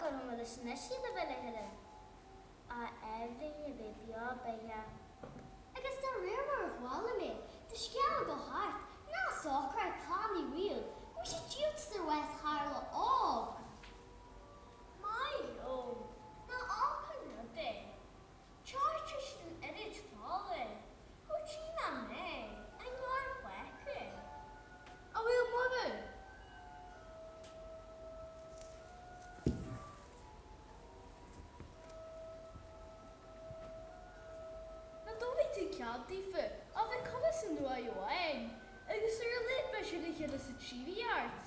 Go luath leis an eisiad a bheith le hoileáin ábhairín a bheith beo beathach. Agus de réir mar a chuala mé an scéal ag gabháil thart, ná socraigh tanaí riamh go bhfuil sé diúltaithe ar Wes tharla ámh go maith liom ná ábhar an rud é. Charter san oiread fola thú tí ná mé, a ngarmhaicne. A bhfuil moladh. Nach dtabharfaidh tú cead daofa a bheith curtha san uaigh amháin agus ar a laghad beidh siad le chéile sa tsíoraíocht.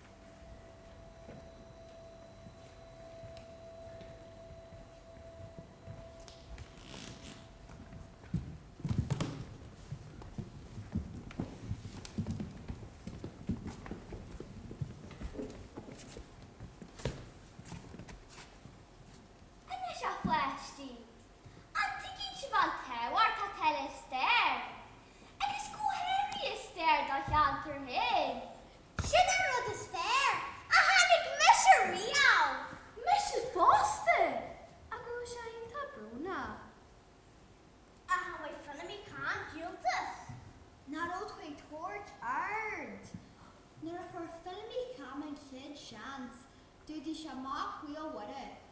Anois a pháistí, an dtuigeann sibh an tábhacht atá le stair, agus go háirithe le stair do cheantar féin Sin an rud is fearr a tháinig mise riamh. Mise fosta! Ach an bhfuil sé iontach brónach? Ach an bhfuair Feilimí Cam díoltas? Nach raibh tú ag tabhairt aird nuair a fuair Feilimí Cam an chéad seans, d'fhuadaigh sé mac Mhaolmhuire.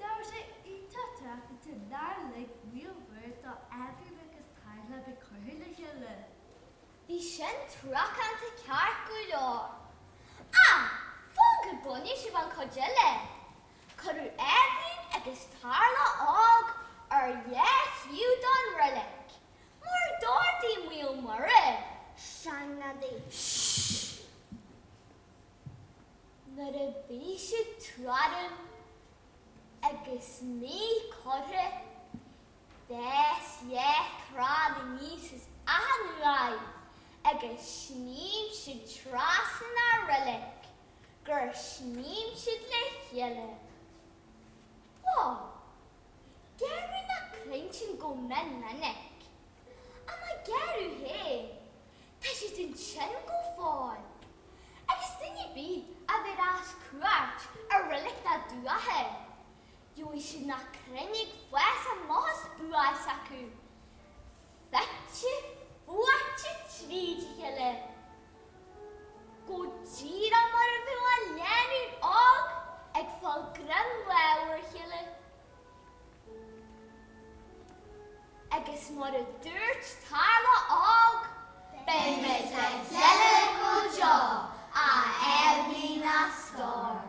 Nach raibh sé iontach truacánta nár lig Maolmhuire do Eibhlín agus Tarlach a bheith curtha le chéile. Bhí sin truacánta ceart go leor. Ach fan go gcluinfidh sibh an chuid eile. Cuireadh Eibhlín agus Tarlach óg ar leath-thaobh don roilig mar d'ordaigh Maolmhuire. Seanghadaí. Shh! Nuair a bhí siad tuairim agus mí curtha d'eascair crann aníos as achan uaigh agus shníomh siad trasna na roilige gur shnaidhm siad le chéile. Ó, gearradh na crainn sin go mion minic, ach má gearradh féin, Tá siad ansin go fóill. Agus duine ar bith a bhéarfas cuairt ar reilig na dTuath. Gheobhaidh siad na crainn ag fás a mbuíochas buíochas acu. Fite fuaite tríd a chéile. Go díreach mar a bheadh an lánúin óg ag fáil greim láimhe ar a chéile. Agus mar a dúirt Tarla Óg. Beidh mé sa deireadh go deo, a Eibhlín na scor.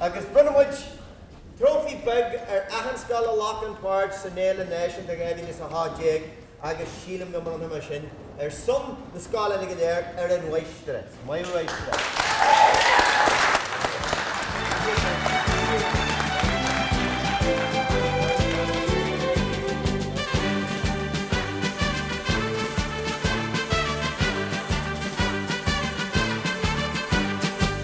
Agus bronnann muid trófaí beag ar achan scoil a ghlac páirt san Fhéile Náisiúnta 2018 agus sílim go mbronnfaidh mé sin ar son na scoileanna go léir ar an Mháistreás, Maolra Uí Scáile.